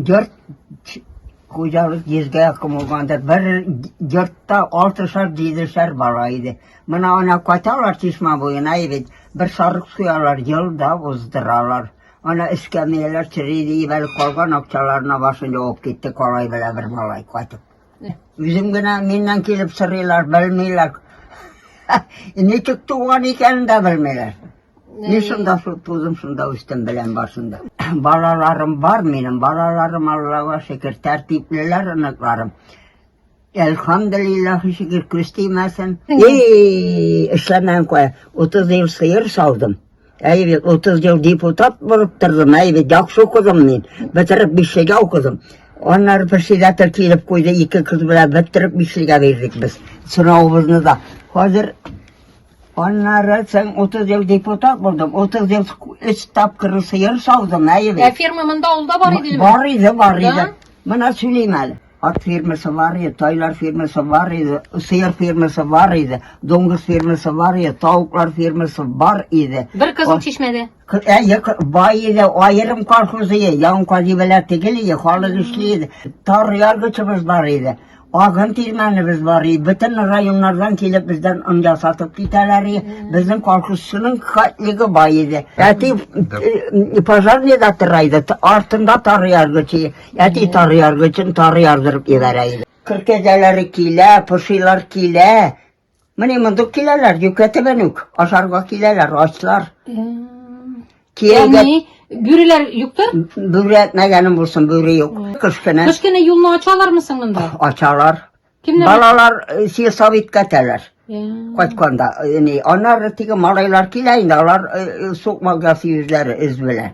Йорт хуҗалык йөзгә комылганда бер йортта алтышар җидешәр бала иде менә ана кайталар чишмә буена бит бер сарык суялар елда уздыралар ана эскәмияләр чыри диеп әле калган акчаларына башын явып китте калай белә бер малай кайтып үзем генә миннән килеп сорыйлар белмиләр ничек туган икәнен дә белмиләр Мин шунда тудым, шунда үстем белән башында. Балаларым бар минем, балаларым Аллага шөкер, тәртиплеләр оныкларым. Әлхамдулиллах шөкер, күз тимәсен. Эй, эшләмән куя. 30 ел сыер салдым. Әй бит 30 ел депутат булып тордым, әй бит яхшы укыдым мин. Бетереп бишлегә укыдым. Аннары председатель килеп куйды, ике кыз белән бетереп бишлегә бирдек без. Сорауыбызны да. Хәзер Аннары соң 30 ел депутат булдым. 30 ел өч тапкыр сыер саудым, әйе. Ә ферма монда авылда бар иде Бар иде, бар иде. Мына сөйлим әле. Ат фермасы бар иде, тайлар фермасы бар иде, сыер фермасы бар иде, доңгыз фермасы бар иде, тавыклар фермасы бар иде. Бер кызыл чишмәдә. Кыяк бай иде, аерым колхоз иде, ян казибәләр тигел иде, халык эшли иде. Тар яргычыбыз бар иде. Агын тирмәнебез бар иде. Бөтен районнардан килеп бездән он ясатып китәләр иде. Безнең колхозчының хатлыгы бай иде. Әти э, пожарныйда тора иде, т- артында тар яргычы. Әти тар яргычын тар ярдырып ебәрә иде. Кыр кәҗәләре килә, пошилар килә. Менә мондук киләләр, йөкләтәбән үк. Ашарга киләләр, ачлар. Кияүгә Ягъни бүреләр юктыр? бүре әтмәгәнем булсын, бүре юк. Кыш көне Кыш көне юлны ачалармы соң монда? ачалар. Кемнәр? Балалар э, силсап иткәтәләр. Э, Кайтканда, э, не, аннары теге малайлар килә инде, алар э, э, сукмак ясый үзләре, эз белән.